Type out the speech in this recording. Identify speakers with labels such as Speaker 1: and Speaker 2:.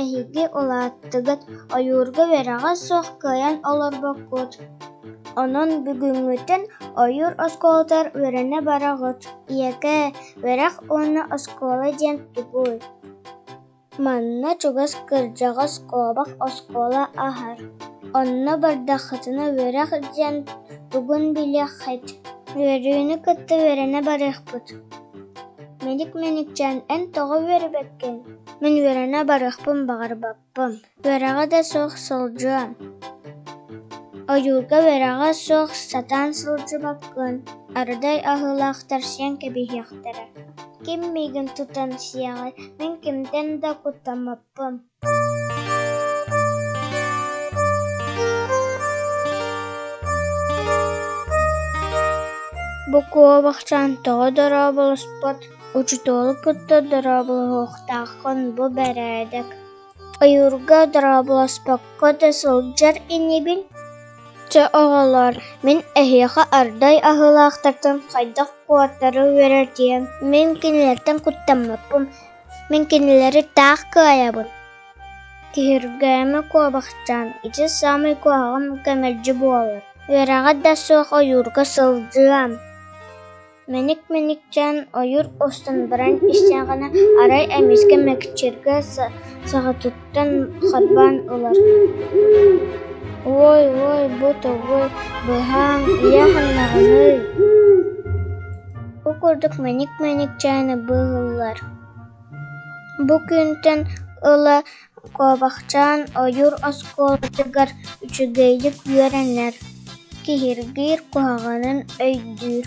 Speaker 1: Эһиги улааттыгыт, ойуурга үөрэҕэ суох кыайан олорбоккут. Онон бүгүҥҥүтүн ойуур оскуолатыгар үөрэнэ бараҕыт. Ийэкээ, үөрэх уонна оскуола диэн тугуй? Манна чугас кырдьаҕас куобах оскуола аһар. Онно бардаххытына үөрэх диэн тугун билиэххит. Үөрүүнү кытта үөрэнэ барыахпыт. Мэник-мэникчээн эн тоҕо үөрэбэккин? Мин үөрэнэ барыахпын баҕарбаппын, үөрэҕэ да суох сылдьыам, ойуурга үөрэҕэ суох сатаан сылдьыбаккын, арыдай аһыылаахтар сиэн кэбиһиэхтэрэ. Ким миигин тутан сиэҕэй, мин кимтэн да куттаммаппын Букова бахчаан тоҕо дорооболоспот Учууталы кытта дорооболоһуохтааххын бу бэрээдэк ойуурга дорооболоспокко да сылдьар инибин Чэ оҕолоор мин эһиэхэ ардай аһыылаахтартан хайдах куотары үөрэтиэм мин кинилэртэн куттаммаппын мин кинилэри таах кыайабын Киһиргээмэ куобахчаан ити саамай куһаҕан кэмэлдьи буолар үөрэҕэ да суох ойуурга сылдьыам Мэник-мэник дьаан ойуур устун баран истэҕинэ, арай эмискэ мэкчиргэ саҕатыттан харбаан ылар: «Уой, уой, бу тугуй, быһааҥ, ийэ ханнаҕыный?» Ол курдук мэник-мэник дьааны быыһыыллар. Бу күнтэн ыла Куобахчаан ойуур оскуолатыгар үчүгэйдик үөрэнэр, киһиргиир куһаҕанын өйдүүр